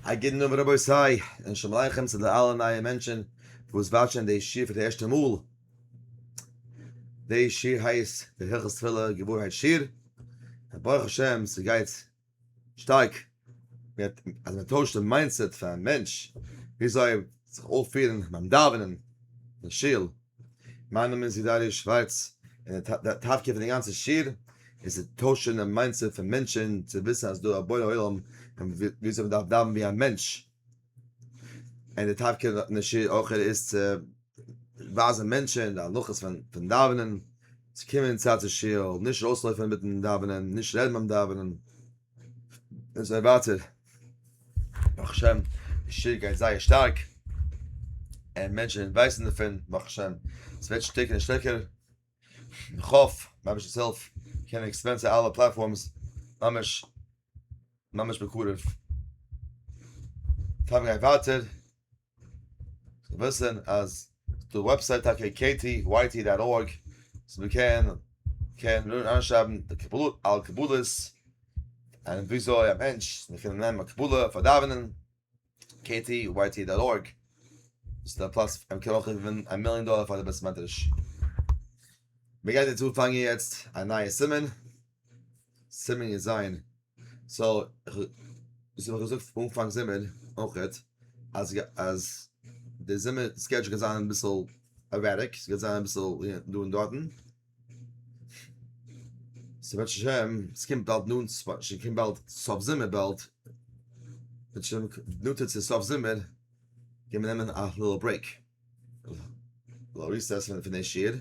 א גוטן אויבן רבותי, און שלום עליכם צו די אלע נייע מענטשען וואס וואטשען די שיעור פאר די ערשטע מאל. די שיעור הייסט די הלכות תפילה געווארהייט שיעור, און ברוך השם ס'גייט שטארק מיט אז מען טוישט די מיינדסעט פארן מענטש וויאזוי זיך אויפפירן ביים דאווענען אין שול, מיינע מין סידאריע שווייץ און די טאטקע פון די גאנצע שיר עס איז טוישען די מיינדסעט פון מענטשען צו וויסען אז דא א בורא עולם און וויאזוי מען דארף דאווען ווי א מענטש און די טאטקע פון די שיר אויך איז צו ווייזען מענטשען די הלכות פון דאווענען צו קומען צייט צו שול נישט אויסלויפען מיטן דאווענען נישט רעדן ביים דאווענען. און זיי ווייטער, ברוך השם, די שטער גייט זייער שטארק, און מענטשן ווייסן דערפון, ברוך השם, עס ווערט שטערקער און שטערקער, איך האף, רבי'שע זאל קענען עקספענסען אלע פלאטפארמס, ממש, ממש בקרוב, פארווען גייט ווייטער. זאל וויסן אז די וועבסייט טאקע קעטי ווייטי דאט ארג וואס מען קען קען אריינשרייבן די קבלות אלע קבלות און וויאזוי א מענטש מען קען נעמען א קבלה פאר דאווענען קעטי ווייטי דאט ארג דאס איז א פלאץ וואו מען קען אויך געווינען א מיליאן דאלער פאר די בית מדרש מען גייט יעצט אנפאנגען יעצט א נייע סימן סימן יז סאו וואס האב איך געזאגט פון אנפאנג זומער אויכעט אז אז די זומער סקעדזשול גייט זיין אביסעל ערעטיק סגייט זיין אביסעל דא און דארטן סאו בעזהשי ת סקומט באלד נאנט סקומט באלד סוף זומער באלד נאנטער צו סוף זומער גיימער נעמען א ליטעל ברעיק ליטעל ריסעס פון די שיעור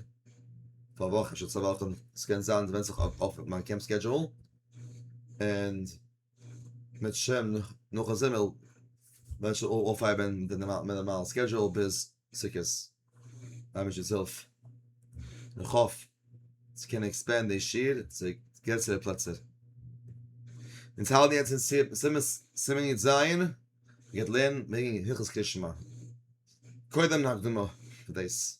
פאר א וואך אפשר צוויי וואכן סקען זיין סווענד זיך אויף מיין קעמפ סקעדזשול. און מיט השם נאכן זומער וועט שוין אויפהייבען די נארמאלע סקעדזשועל ביז סוכות מיט אביש'ס הילף, און איך האף צו קענען עקספענדען די שיעור צו גרעסערע פלעצער. אונז האלטן יעצט אין סימן יט ז, און גייט לערנען וועגן הלכות קרישמע. קודם אן הקדמה פאר דאס.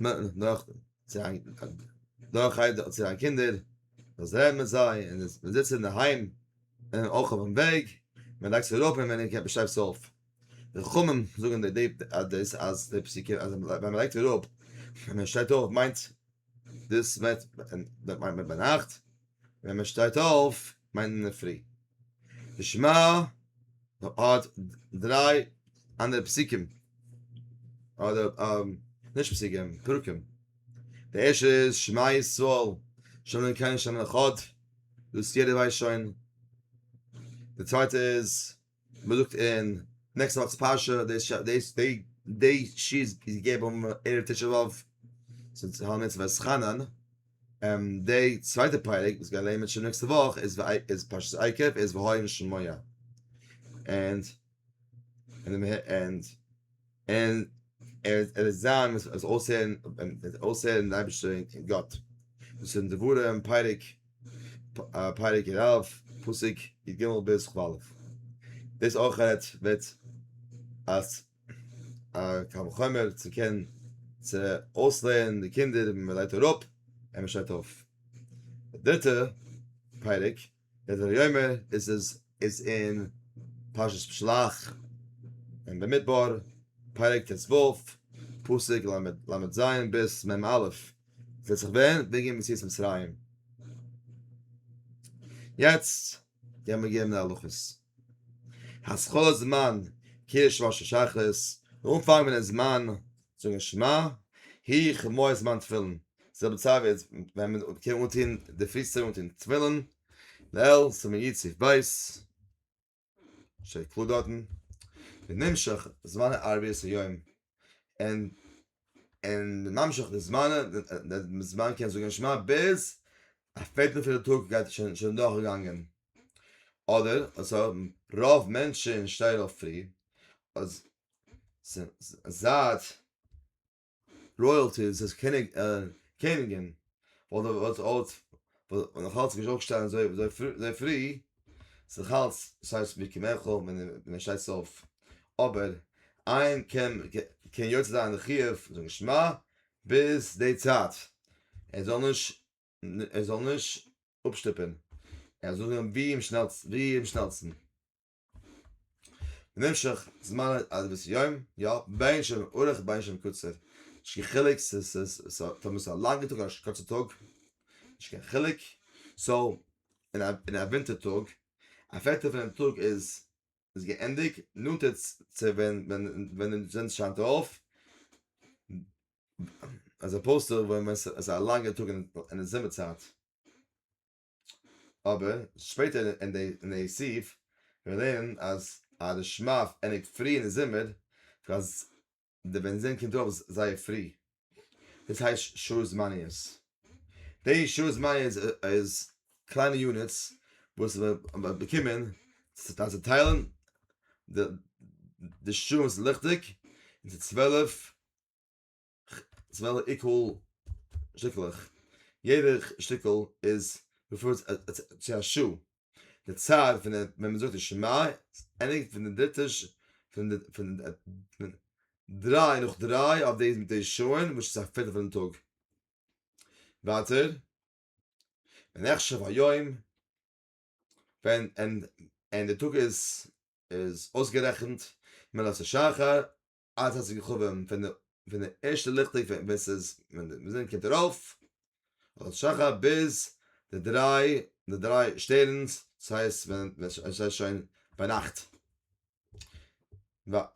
נאך צו זיין נאך הייב צו זיין קינדער דאס רעדן מיט זיי און עס זיצן אין דערהיים און אויך אויפן וועג מען לייגט זיך אראפ און מען קען שטייט עס אויף די חכמים זאגן די אז דאס אז די פסוקים אז ווען מען לייגט אראפ און מען שטייט אויף מיינט דאס מיינט מיינט מען ביינאכט, ווען מען שטייט אויף מיינט מען אינדערפרי. די שמע האט דריי אנדערע פסוקים, אדער נישט פסוקים, פרקים. די ערשטע איז שמע ישראל, שם אלקינו שם אחד, דאס יעדער ווייסט שוין. די צווייטע איז. מען זאגט אין נעקסט ווארטס פרשה דאס דאס דעי דעי ש איז געגעבן ערב תשעה באב צום צהל מצוה וואס חנן און דעי צווייטע פרק וואס גייט לערנען שוין נעקסטע וואך איז איז פרשת עקב איז והאי נשמיה ענד ענד. און ער ער וועט זיין וואס וואס אויסהערן אויסהערן די אייבערשטער און גאט. דאס איז אין דברים פרק פרק ר א פסוק י ג ביז כ א. דאס אויך רעדט וועט אז א קל וחומר צו קענען צו אויסלערנען די קינדער ווען מען לייגט אראפ און מען שטייט אויף. די דריטע פרק. דער דבר יאמר איז עס איז אין פרשת בשלח אין במדבר פרק טז ו פסוק ל ל ז ביז מ א וועט זיך ווען וועגען מציאות מצרים יעצט גיימער געבן די הלכות. השחר זמן קידוש ראש השחרית, די אנפאנג פון די זמן זאגן שמע, הי ח מועד זמן תפילין, זעלבע צייט ווי יעצט ווען מען קען אנטון די פרישטאג אנטון תפילין, לעיל סימן יט סעיף ב', שטייט קלאר דארטן, ונמשך זמן הערבית היום, און און ממשיך די זמן, די זמן קען זאגן שמע ביז א פערטל פון די טאג גייט שוין דורכגעגאנגען, אדער עס האבן רוב מענטשן שטייען אויף פרי, אז זייט רויעלטיס איז קעניגן. וואלט ער וואלט אלץ וואלט נאך אלץ געשט אויפשטיין זוי זוי זוי פרי זיך אלץ שייס ווי קעמעכו ווען ווען שייס אויף אבער איין קען קען יוצא זיין די חיוב זאגן שמע ביז די צייט ער זאל נישט ער זאל נישט אפשטופען ער זאל זאגן ווי אמשנעלסטן ווי אמשנעלסטן. במשך זמן אדוועס יום יא בין שם אורך בין שם קוצר נישט קיין חילוק ס ס ס טאמער איז א לאנגע טאג אדער א קורצע טאג נישט קיין חילוק סאו אין א אין א ווינטער טאג א פערטל פונעם טאג איז איז געענדיג נאנטער צו ווען ווען ווען די זון שיינט אויף עז אפאוזד טו ווען עס איז א לאנגע טאג אין די זומער צייט. אבער שפעטער אין די סעיף ווען מיר לערנען אז א רשמב ענדיגט פרי אין די זומער אז די בענזין קומט ארויף זייער פרי דאס הייסט שעות זמניות די שעות זמניות איז קליינע יוניטס וואס מ'האט באקומען צו צוטיילן די שעה וואס איז ליכטיג און די צוועלף כ'וועל עיקול שטיקלעך, יעדע שטיקל איז ריפערט צו א שו ת, די צד פון דער ווען מ'זאגט די שמע ענדיגט פון די דריטע ש פון דריי נאך דריי אויף די מיט די שעה'ן וואס איז א פערטל פונעם טאג. ווייטער ונחשב היום ווען און די טאג איז איז אויסגערעכנט מלאת השחר אלעס האט זיך געהאבען פון די פון די ערשטע ליכט טעג פון ווען ס'איז ווען די זון קומט ארויף אדער שחר ביז די דריי די דריי שטערנס דאס הייסט ווען ווען עס איז שוין ביינאכט ווייל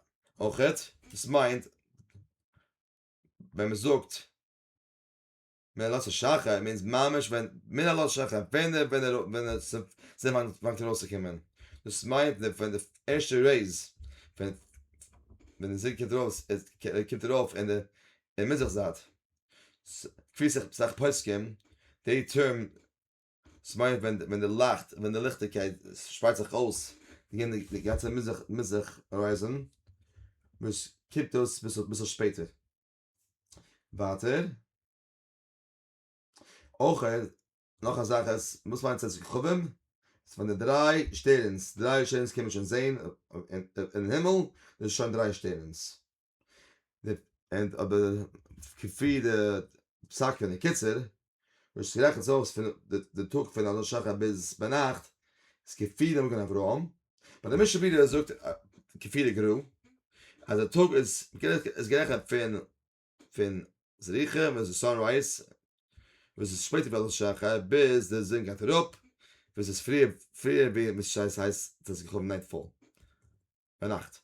אויכעט דאס מיינט ווען מ'זאגט. מן הלא ששכר מיינס ממש ווען מן הלא ששכר ווען ער ווען ער ווען ער פאנגט אן אויסצוקומען דאס מיינט מען פון די ערשטע רעיז ווען ווען די זון קומט ארויס ער קומט ארויף אין די אין מזרח זייט כפי סאך פוסקים די טערם דאס מיינט ווען ווען די לייכט ווען די ליכטיגקייט שפרייט זיך אויס די גאנצע מזרח הוריזאן וואס קומט אויס ביסל שפעטער. ווייטער, אויך נאך א זאך אז וואס מיינט צאת כוכבים? איז פון די דריי שטערנס, דריי שטערנס קען מען שוין זעהן אין הימל, דאס איז שוין דריי שטערנס. אבער כפי די פסק פון די קיצור וואס שרעכענט זיך אויס פון די טאג פון אלון שחר ביז ביינאכט איז כפיר דער מגן אברהם ביי די משנה ברורה זאגט כפיר גרא אז דער טאג איז איז גערעכענט פון פון זריחה ווען עס סאנרייז וואס איז שפעטער ווי אלון שחר ביז די זון גייט אראפ וואס איז פריער פריער ווי מיט שייס הייסט דאס געקומען נייט פאל ביינאכט.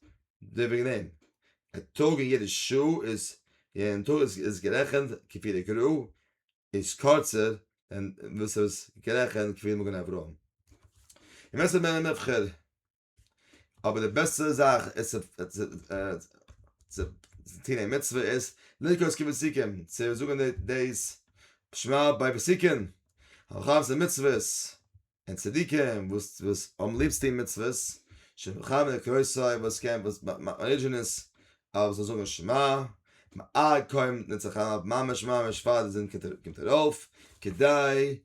די וועגן דעם אין טאג אין יעדע שעה איז אין טאג איז גערעכנט כפי דקרו איז קורצער אין וואס איז גערעכנט כפי מגן אברהם און ווער ס'איז מער נבחר אבער די בעסטע זאך איז צו טון די מצוה איז לרקוד כבית סיכום צו זאגן די שמע ביי וסיכון הרחבת המצוות און צדיקים וואס וואס האבן ליב צו טון מצוות, שמחנו קרויסי וואס קען וואס מאכט מען ארידזשענעס אז מ'זאל זאגן שמע, מ'האלט קוים מיט נצח הרב ממש ממש פאר די זון קומט ארויף, כדי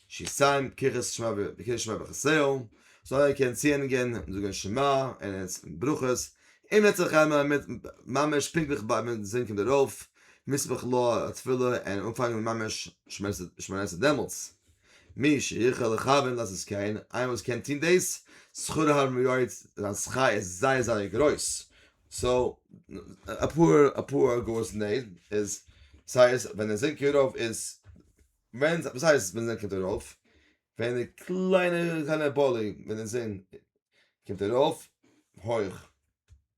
שיסיים פקיחות שמו פקיחות שמו וחסרון, זאל ער קענען צוהענגען און זאגן שמע און ברכות, און נצח הרב מיט ממש פונקטליך ביי ווען די זון קומט ארויף, מספיק לו התפילה און אנפאנגען ממש שמונה עשרה דעמאלטס, מי שיכול לכוון לאזט עס קען, איינער וואס קען טון דאס, שכרו הרבה מאוד, זיין שכר איז זייער זייער גרויס, סאו אפאר אפאר אגורות אין דעם איז סאיז ווען די זון קומט ארויף איז ווען וואס הייסט ווען די זון קומט ארויף? ווען די קליינע קליינע באלי ווען די זון קומט ארויף הויך.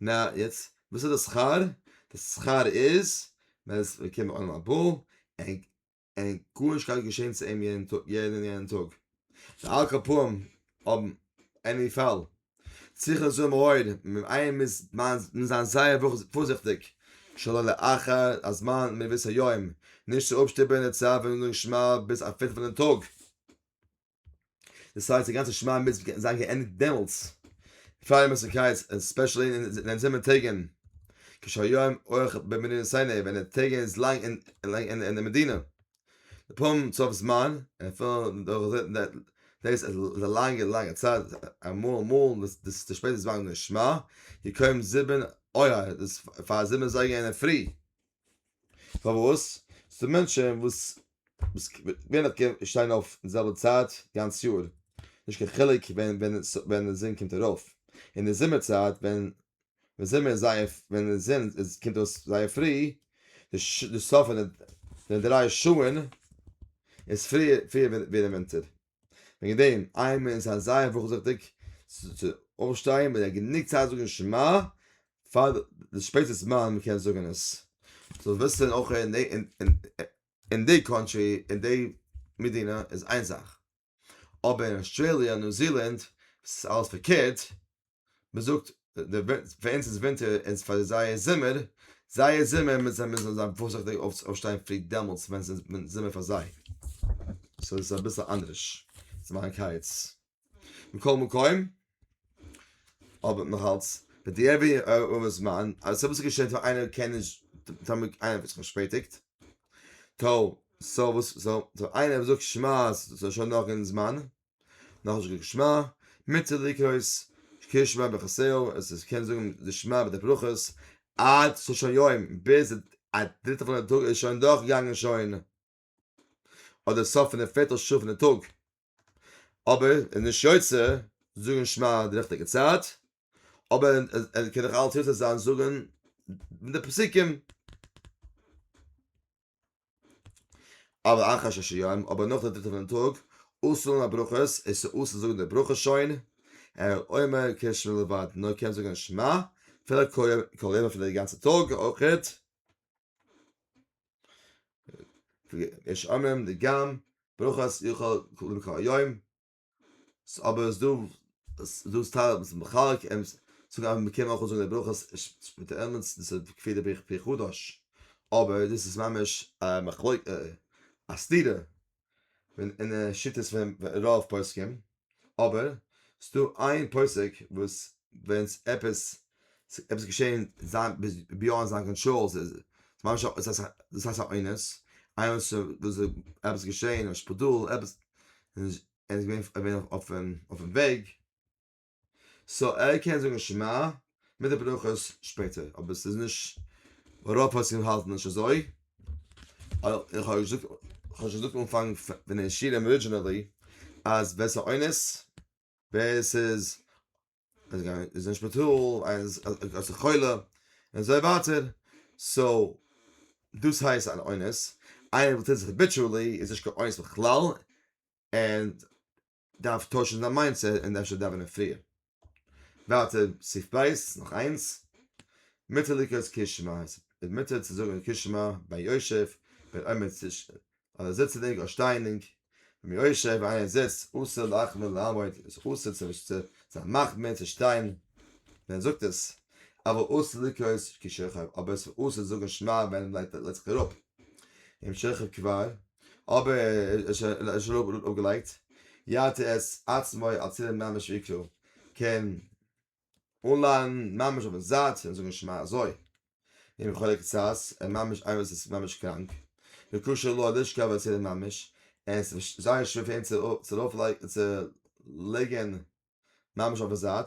נא יעצט וואס איז די שכר? די שכר איז מען איז געקומען עולם הבא ענק ענק גארנישט קארג געשען צו אים יענע טאג יענע יענע טאג די על כרפאים האבן עני פאל צריך לזהר מאוד מיט איהם מיז מיין מיז זיין זייער וואך פארזיכטיג שלא לאחר הזמן מביס היום נישט צו אפשטופען די צער פון די נשמה ביז א פערטל פון די טאג. דאס הייסט די גאנצע שמע מצוות קען זיין געענדיגט דעמאלטס פאר יום סוכות ספעשל אין די זומער טעגן כשהיום אויך במדינת סיני ווען די טעג איז לאנג אין לאנג אין אין די מדינה פום סוף זמן פון דאס איז א לאנגע לאנגע צייט אמאל אמאל דאס די שפעטע זמן נשמע יקוים זיבן אויער דאס פאר זיבן אזייגער אינדערפרי פארוואס? ס'דא מענטשען וואס ווער נאך קען שטיין אויף אין זעלבע צייט גאנץ יאר, נישט קיין חילוק ווען די זון קומט ארויף, אין די זומער צייט ווען די זומער איז זייער ווען די זון קומט אויס זייער פרי, די סוף פון די דריי שעה'ן איז פריער ווי די ווינטער. וועגן דעם, איין מאל איז א זייער פארזיכטיג צו אויפשטיין מיט א גענוג צייט זאגן שמע פאר די שפעטע זמן מען קען זאגן עס. זאל וויסן אויך אין די אין די קאנטרי אין די מדינה איז איין זאך, אבער אין אויסטרעליע ניו זילאנד וואס איז אלעס פארקערט, מען זאגט די פאר אונז איז ווינטער און פאר זיי איז זומער, זיי איז זומער מיט זיי מוזן זיי פארזיכטיג אויפשטיין פרי דעמאלטס ווען עס איז זומער פאר זיי, סאו עס איז אביסל אנדערש צו מאכן קיץ. מכל מקום, אבער נאכאלץ, בדיעבד אויב איז זמן, אז ס'איז אביסל געשענט פאר איינער קען נישט, טאמער איינער האט זיך פארשפעטיגט, טא, סאו וואס, סאו איינער וואס זאגט שמע, ס'איז שוין נאך אין זמן. נאך נישט געזאגט שמע, מוציא די כוס, שקיע שמע בחצר, עס איז קען זאגן די שמע מיט די ברכות, עד שלישי יום, ביז א דריטע פונעם טאג איז שוין דורך געגאנגען שוין אדער סוף פון די פערטע שעה פון די טאג, אבער איז נישט יוצא זאגן שמע די ריכטיגע צייט, אבער ער קען נאך אלץ יוצא זיין זאגן מיט די פסוקים. אבער אחר ששי יום, אבער נאך די דריטע פונעם טאג, אסור לומר ברכות, איז ס'אסור זאגן די ברכה שוין, אלא אומר קה שמע לבד, נאר קען זאגן שמע, אפילו כל יום אפילו די גאנצע טאג, אויכעט, יש אומרים די גמ', ברכות יאכל כל יום, אבער ס'דא ס'דא סטארע וואס מחלק און זאגן אז מ'קען אויך אנזאגן די ברכות שמיטה עמונס דאס איז כפי די ברכת פרי חדש אבער דאס איז ממש א מחלוקה א סתירה אין שיטות פון רוב פוסקים אבער ס'דא איין פוסק וואס ווען עפעס ס'איז עפעס געשען זיין ביאנד זיין קאנטראל ס'איז ממש א דאס הייסט א אונס איינמאל ס'איז עפעס געשען אין שפיטאל עפעס און ער איז געווען ער איז געווען אויפן וועג סאו ער קען זאגן שמע מיט די ברכות שפעטער אבער ס'איז נישט רוב פוסקים האלטן נישט אזוי איך האב געזאגט איך האב שוין געזאגט אנפאנג פון די שיעורים ארידזשינעלי אז ווער ס'איז א אונס ווער ס'איז אז גיין איז אין שפיטאל איינס אז א חולה און זיי וואטער סאו דאס הייסט אן אונס איינער וואס טוט זיך ביטשולי איז נישט קיין אונס בכלל און דארף טוישן זיין מיינדסעט און אפשר דאווענען פריער וואטער סיף בייס נאך איינס מיטעליקעס קישמע מיט צו זאגן קישמע ביי יושב ווען עומד אז ער זיצט צו דעריקן א שטיינונג, רבי יושע ווען איינער זיצט אסור להחמיר לעמוד, עס איז אסור צו נישט צו זיין מחמיר צו שטיין ווען ער זאגט עס, אבער אסור לקרות כי שכב, אבער עס איז אסור צו זאגן שמע ווען ער לייגט לייגט זיך אראפ, אם שכב כבר, אבער ער איז שוין ער איז שוין אפגעלייגט, יעטה את עצמו הצילם ממש ויקרא, קען אנליין ממש אויפן זייט און זאגן שמע אזוי און חלק צז און ממש איינער וואס איז ממש קראנק וקשה לו לשכב על סדר ממש און עס איז זייער שווער פאר אים צו ארויף לייגן צו ליגן ממש אויפן זייט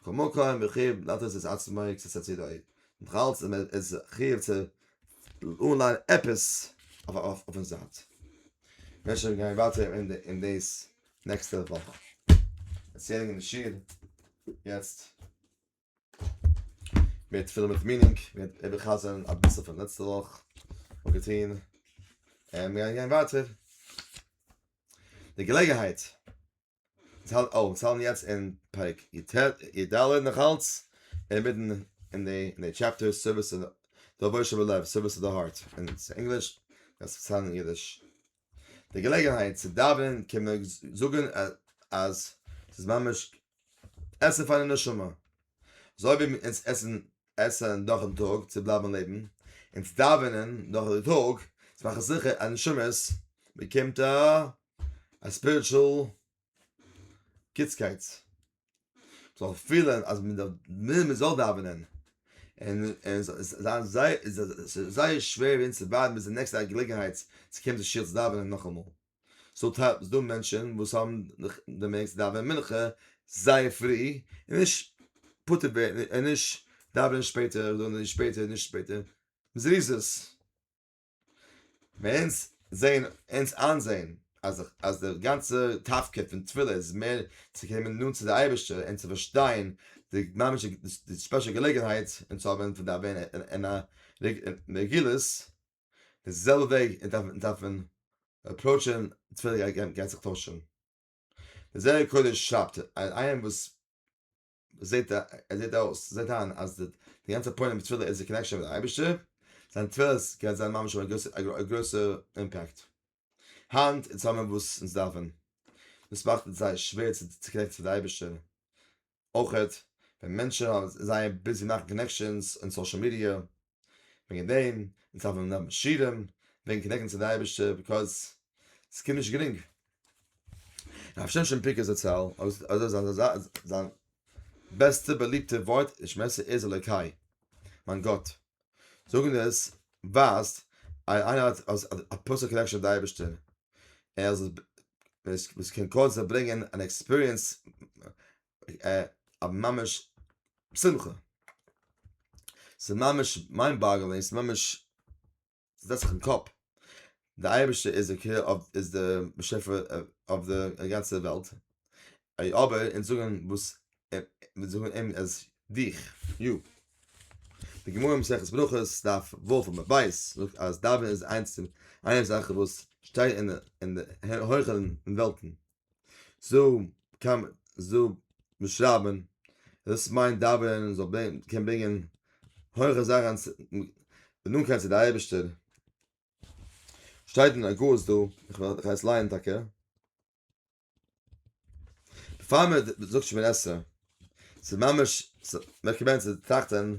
בכל מקום מחיוב לעטות את עצמו קצת הצידה אויב נאך אלץ איז חיוב צו אנליין עפעס אויפן זייט מען קען שוין גיין ווייטער אין דעס נעקסטע וואך ערציילונג אין די שול יעצט מער תפילה מיט מינינג מיר וועט איבערחזר'ן אביסל פון לעצטע וואך און געטוהן און מיר גייען גיין ווייטער די געלעגענהייט צו האלטן אויף צו האלטן יעצט אין פרק י ד נאכאלץ אינמיטן אין די אין די טשעפטער סערוויס טו די אבושר בלב סערוויס טו די הארט אין ענגליש עס איז פארהאן אין אידיש די געלעגנהייט צו דאווענען קען מען זאגן אז ס'איז ממש עסן פאר די נשמה. אזוי ווי אונז עסן עסן דורכן טאג צו בלייבן לעבן, אונז דאווענען דורך די טאג צו מאכן זיכער אז נשמות באקומט א ספיריטשול קיצקייטס זאל פילען אז מען דארף מען זאל דאווענען און און זיין זיי זייער שווער אונז צו ווארטן ביז די נעקסטע געלעגנהייט צו קומען צו שול צו דאווענען נאכאמאל סאו טייל ס'דא מענטשען וואס האבן די מעגליכקייט צו דאווענען מנחה זייער פרי און נישט פטור ווערן און נישט דאווענען שפעטער אדער נישט שפעטער נישט שפעטער זריזות. ווען אונז זעהן אונז איינזעהן אז אז די גאנצע תפקיד פון תפילה איז מער צו קומען נאנט צו די אייבערשטער און צו פארשטיין די ממש די ספעשל געלעגנהייט און צו האבן פון דעם אין א רגילות די זעלבע וועג אונז דארפן אפראוטשען תפילה גייט זיך טוישען. די זוהר הקודש שרייבט אז איינער וואס זעט ער זעט אויס זעט אהן אז די די גאנצע פוינט מיט תפילה איז די קאנעקשאן מיט די אייבישטער זיין תפילות קען זיין ממש האבן א גרויסע אימפעקט היינט אין זאמען וואס אונז דארפן דאס מאכט עס זייער שווער צו צו קאנעקטן צו די אייבישטער אויכעט ווען מענטשן זענען זייער ביזי מאכן קאנעקשאנס אין סאשעל מידיע וועגן דעם אונז דארף מען נעמען שירעם וועגן קאנעקטן צו די אייבערשטער ביקאוז עס קומט נישט גרינג. רב שמשון פיקער זצל זיין בעסטע באליבטע ווארט אין שמעסער איז אלוקי מיין גאט זאגן עס ווייזט אז איינער האט א פערסענעל קאנעקשאן מיט די אייבערשטער ער איז וואס קען קורצער ברענגען אן עקספיריענס ממש שמחה, ס'איז ממש מיינד באגלינג, ס'איז ממש זעצט זיך אין קאפ, די אייבערשטער איז די קעיר אוו איז די באשעפער אויף די גאנצע וועלט, אבער אונז זאגן וואס מיר זאגן אים אז דיך יו, די גמרא מסכת ברכות דף ו' עמוד ב' זאגט אז דאווענען איז איינס פון איינע זאכן וואס שטייט אין די הויכע וועלטן. זא קען מען זא שרייבען דאס מיינט דאווענען זאל ברענגען קען ברענגען הויכע זאכען נאנטקייט צו די אייבערשטער שטייט אין הגהות דא איך וועל איך הייס לייען טאקע פאר מען זאגט שמונה עשרה ס'איז ממש ס'מעקען מען צו טראכטען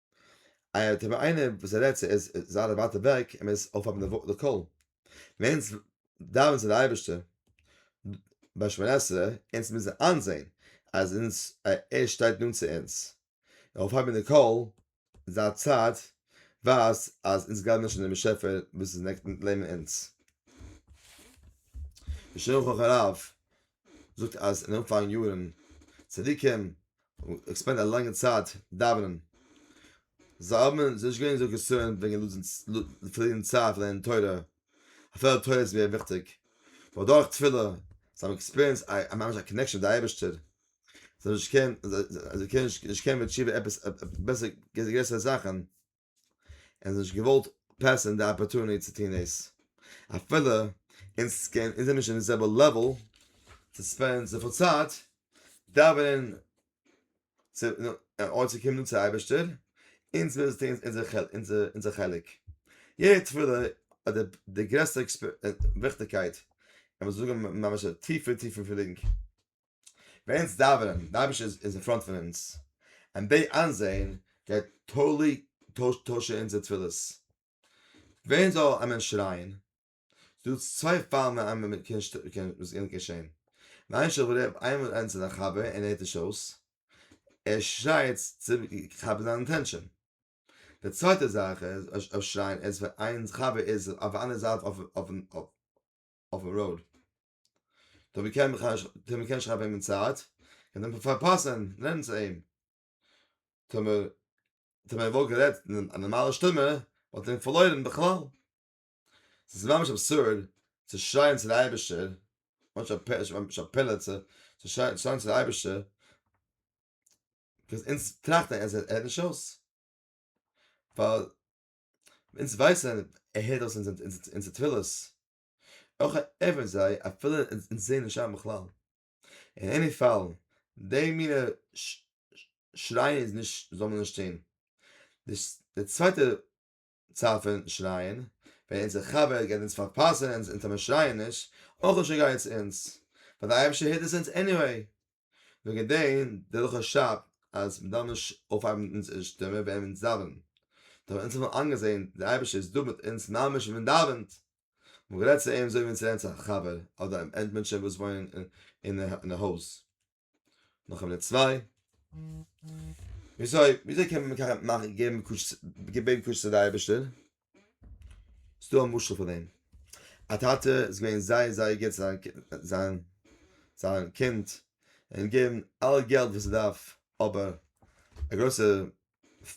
אייער טבע איינער וואס ער רעדט צו איז זייער ווייט אוועק ער מוז אויפהייבן די קול ווענס דאווען צו די אייבערשטער ביי שמונה עשרה אונז מוזן איינזעהן אז אונז ער שטייט נאנט צו אונז אויפהייבן די קול זייער צייט ווייזט אז אונז גלייבן נישט אין דעם באשעפער וואס איז נעבן אונז. די שולחן ערוך זאגט אז אין אנפאנג יארן צדוקים געספענדט א לאנגע צייט דאווענען, זיי האבן נישט געווען אזוי קאנסערנד וועגן לוזן פארלירן צייט לערנען תורה, אפילו די תורה איז געווען וויכטיג, נאר דורך תפילה, זיי האבן עקספיריענסד א ממש א קאנעקשאן מיט די אייבערשטער, זיי האבן נישט געקענט, זיי קענען נישט קענען מיט תשובה עפעס בעסער גרעסערע זאכן. און נישט געוואלט פעסען די אפערטוניטי צו טון דאס אפילו אונז קען אונז זענען נישט אין די זעלבע לעוועל צו ספענדן זיך אויף צייט דאווענען צו אן צו קומען צו אייבערשטער אונז מוז טון אונזער חלק אונזער חלק יעדע תפילה האט די גרעסטע וויכטיגקייט און מ'זאל זאגן ממש א טיפע טיפע פילינג. ווען אונז דאווענען, די אייבערשטער איז אין פראנט פון אונז, און די איינזעהן גייט טאטלי טוישן אונזער תפילות. ווען זאל א מענטש שרייען? ס'דא צוויי פאלן ווען איינמאל מען קען וואס קען געשעהן. איין שב ר איינמאל איינס איז א חבר און ער הערט נישט אויס, ער שרייט צו כאפן זיין אטענשאן. די צווייטע זאך איז, אויב שרייען איז ווען איין חבר איז אויף די אנדערע זייט אויף אויף אויף. אויפן ראוד, דאן ווי קען איך, טא מען קען שרייבן אים אין צייט, און דעמאלט פארפאסען רעדן צו אים, טא מען, טא מען וואלט גערעדט אין א נארמאלע שטומע, וואלט מען אים פארלוירן בכלל. ס'איז ממש אבסורד צו שרייען צו די אייבערשטער, ממש א פ, ממש א פלא צו שרייען צו די אייבערשטער, וואס אונז טראכטן אז ער הערט נישט אויס, ווייל אונז ווייסען ער הערט אויס אונזער תפילות, אויך ערווענט זיי אפילו אונז זעהן נישט שיין בכלל, אין עני פאל די מינע שרייען איז נישט זאל מען נישט טוהן, די צווייטע צד פון שרייען ווען אונזער חבר גייט אונז פארפאסען אונז אונטער מיר שרייען נישט אויך נישט ער גייט אונז ווייל די אייבערשטער הערט עס אונז עניוועי. וועגן דעם דער הלכה שרייבט אז מ'דארף נישט אויפהייבן מיט אונזערע שטימע ווען אונז דאווענען, דאן וועלן אונז האבן איינגעזען דער אייבערשטער איז דא מיט אונז ממש ווען מ'דאווענט, און גערעדט צו אים אזוי ווי אונז רעדן צו א חבר אדער אונז מענטשן וואס וואוינען אין א הויז. נאך א מינוט צוויי. וויאזוי וויאזוי קען מען געבן קושיות צו די אייבערשטער? ס'איז דא א משל פאר דעם. א טאטע איז געווען זייער זייער גוט צו זיין זיין קינד, ער האט אים געגעבן אלע געלט וואס ער דארף, אבער א גרויסע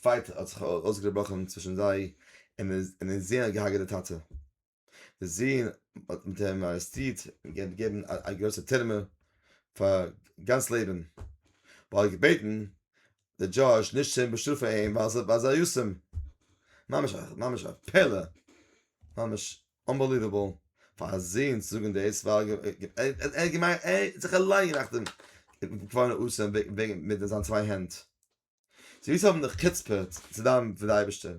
פייט האט זיך אויסגעבראכן צווישן זיי, און און דער זון האט געהארגעט די טאטע. דער זון האט מיט אים ארעסטירט און געווען געבן א גרויסע טורמע פאר גאנץ לעבן, ווייל ער האט געבעטן די דזשאזש נישט צו באשטראפן אים ווייל זיי ווייל זיי יסעם ממש ממש א פלא ממש אנבעליוועבל פאר א זון צו זאגן דאס ווייל ער געמיינט ער האט זיך אליין געמאכט דעם פארן אסם וועגן מיט זיין צוויי הענט זי וויסן האבן די חוצפה צו דאווענען פאר די אייבערשטער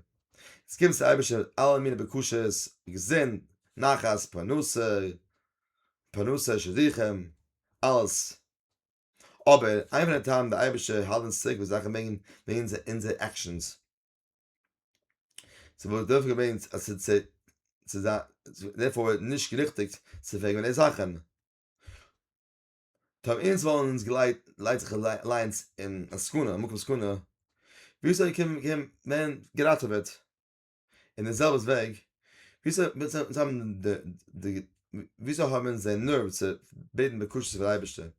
עס קומט צו אייבערשטער אלע מיני בקשות געזונט נחת פרנסה פרנסה שידוכים אלעס אבער איין פון די טעמים די אייבערשטער האלט אונז צוריק וואס זאכן וועגן אונזער אונזער עקשאנס צו וואס דארף געווען אז צו צו צו זיין דערפאר איז נישט געריכטיגט צו פרעגן וועגן די זאכן טאם אונז וואלן אונז געלייט לייט זיך אליינס אין א סכנה מקום סכנה ווי אזוי קען קען מען געראטעוועט אין דער זעלבער וועג, וויאזוי האבן אונז די נערוו צו בעטן בקשות פון דער אייבערשטער?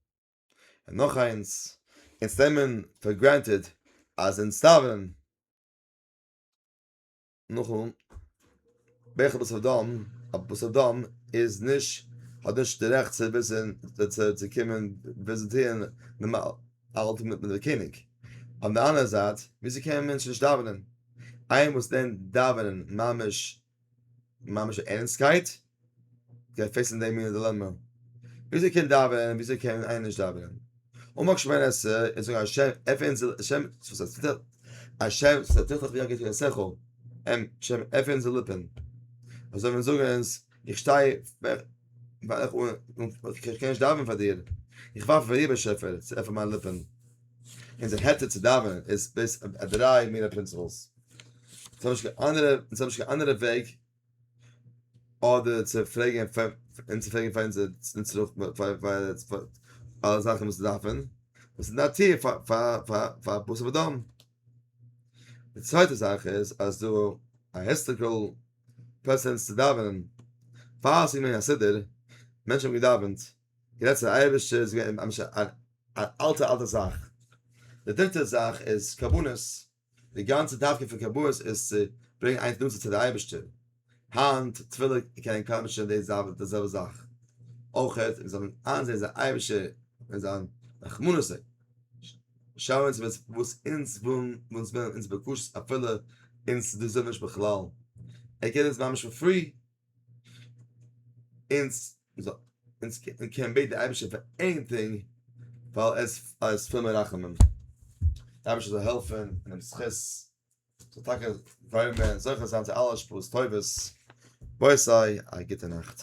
און נאך איינס, אונז נעמען פאר גרענטעד אז אונז דאווענען נאכן ברך בשר ודם, אז בשר ודם איז נישט, האט נישט די רעכט צו וויסן, צו קומען וויזיטירן נארמאל. האלטן מיט מיט דער קעניג. אויף די אנדערע זייט, וויאזוי קען א מענטש נישט דאווענען? איינער וואס לערנט דאווענען ממש ממש ערנסטקייט, גייט פעיסן די מינע דילעמע. וויאזוי קען דאווענען און וויאזוי קען איינער נישט דאווענען? אמאל שמן את זה און זאג השם עפען זיל השם השם ס'טוט זיך ווי א גוטע שכל, השם עפען זיל ליפן. אזוי ווען זאגן עס. איך שטיי פאר איך איך קען נישט דאווענען פאר דיר, איך ווארט אויף דער באשעפער צו עפענען מיינע ליפן און זיך העצן צו דאווענען איז דאס א דריי מינע פרינציפלס, איך האב נישט קיין אנדערע איך האב נישט קיין אנדערע וועג אדער צו פרעגן און צו פרעגן פאר אונזער פאר אלע זאכן וואס מיר דארפן, דאס איז נאטירליך פאר פאר פאר בשר ודם, די צווייטע זאך איז אז דא א היסטאריקעל. פעסענס צו דאווענען, פאר עס איז געווען א סידור, מענטשן האבן געדאווענט, גערעדט צו די אייבערשטער, עס איז געווען ממש א אלטע אלטע זאך, די דריטע זאך איז קרבנות, די גאנצע דווקא פון קרבנות איז צו ברענגען איינס נאנטער צו די אייבערשטער, היינט תפילה קען קיינמאל נישט זיין די זעלבע זאך, אויך ווי אזוי מען זאל איינזען אז די אייבערשטער וועט זיין רחמנות אויף שאנען צו וויסן וואס אונז ווילן וואס וועלן אונז בקשות אפילו אונז דאס וויל מען נישט בכלל, ער געבט אונז ממש פאר פרי, אונז אונז קען בעטן די אייבערשטער פאר עניטינג ווייל ער איז פול מיט רחמים, די אייבערשטער זאל העלפן און אים זכות זאל טאקע ווערן מער זוכה זיין צו אלע השפעות טובות, בואי סיי א גוטע נאכט.